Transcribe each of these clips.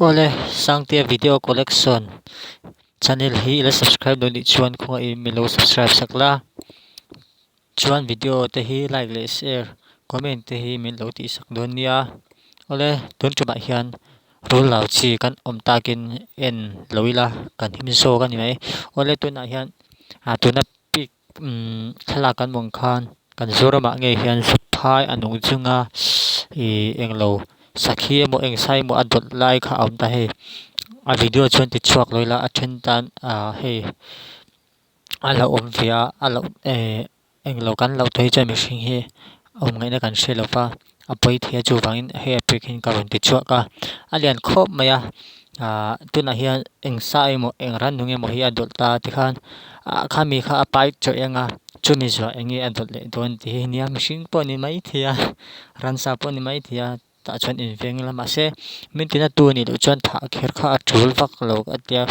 Awle, Sangtea video collection channel hi ila subscribe lo nih chuan khawngah i milo subscribe sak la, chuan video te hi like leh share, comment te hi min lo tih sak dawn nia. Awle, tun tumah hian rul lau chi kan awm takin en lo ila kan him zawk a ni mai. Awle tunah hian tuna pic thlalak kan mawng khan kan Zorama nge hian Sukphai a nung chunga ih englo sakhi emaw engsa emaw a dawt lai kha a awm ta hei a video chuan ti chhuak lawih la a then tan ah hei a la awm ve a a la eh englo kan lo tawh hi chuan mihring hi awm ngaihna kan hre lo va. a puithiah chuvangin hei a pik hian ka rawn tichhuah ka, a lian khawp mai a aah tunah hian eng sa emaw eng rannung emaw hi a dawlh ta tikhan a khami kha a pai chawih anga chumi zua eng nge a dawlh leh dawn tih hi a nia mihring pawh a ni maithei a ransa pawh a ni maithei a tah chuan inveng ila mahse min ti natu a nih loh chuan thah kher kha a tul vak lo a tia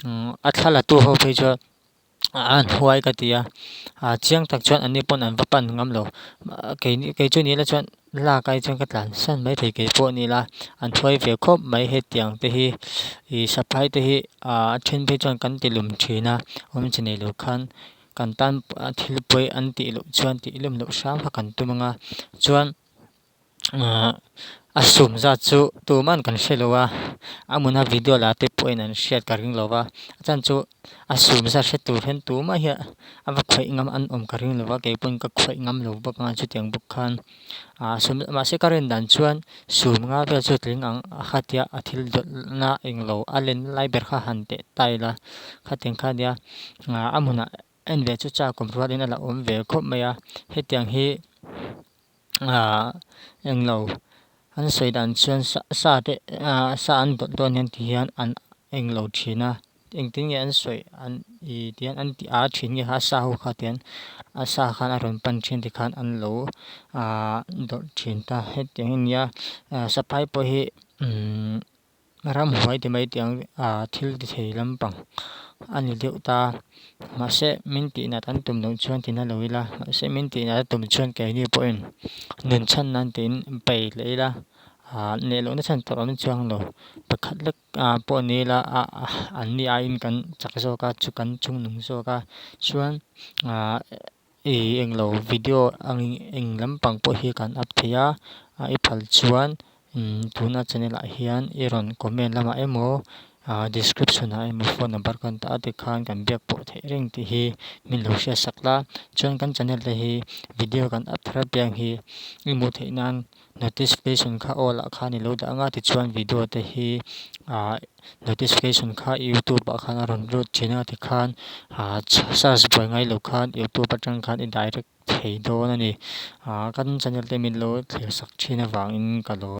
umm a thla latu ho phei chuan-- a hnuai ka ti a, a chiang tak chuan an ni pawn an va pan ngam lo, keini kei chu nila chuan lak ai chuan ka tlan san mai thei kei pawh nila an hnuai ve khawp mai hetiang te hi ih saphai te hi a then phei chuan kan tilum thin a awm che nei lo khan kan tan thil pawi an tih loh chuan tih hlum loh hrang kha kan tum ang a chuan. ahh a sum zat chu tuman kan hre lo a a muna video la te pawh in an hriat ka ring lo va a chhan chu a sum zat hre tur hian tu mai hi a va khawih ngam an awm ka ring lo va kei pawn ka khawih ngam lo bawk anga chutiang bawk khan ahh sum mahse ka rawn dan chuan sum nga vel chu tling ang a khatia a thil dawlh na englo a len lai ber kha han teh tile kha tiang kha nia ahh a hmunah-- En ve chu chak kum ruatin a la awm ve khawp mai a, hetiang hi eng lo an sawi dan chuan sa te sa an dawt dawn hian ti hian an eng lo thin a, engtin nge an sawi an i ti hian an ti a thin nge kha a sa ho kha ti hian a sa khan a rawn pan thin ti khan an lo dawrh thin ta hetiang a nia, saphai pawh hi. ramhuai ti mai tiang thil ti thei lampang a ni deuh ta. Mahse, min tihnat an tum loh chuan ti na lo ila, mahse min tihnat a tum chuan keini pawhin nun chhan nan tiin pei hlei ila, neh lohna chhan tawrh an chuang lo. Pakhat lek pawh ni ila an ni aiin kan chak zawk a, chu kan chung nung zawk a, chuan Ei englo video angin eng lampang pawh hi kan up thei a, a i phal chuan tuna channel ah hian i rawn comment lamah emaw description ah emaw phone number kan tah a tikhan kan biak pawh theih reng tih hi min lo hriat sak la, chuan kan channel te hi video kan up thar a piang hi i hmuh theih nan. Notification kha all ah khan i lo dah anga tichuan video te hi ah notification kha youtube ah khan a rawn lut thin a tikhan ah search buai ngai lo khan youtube atang khan i direct thei dawn a ni. Ah kan channel te min lo thlir sak thin avang in ka lawi.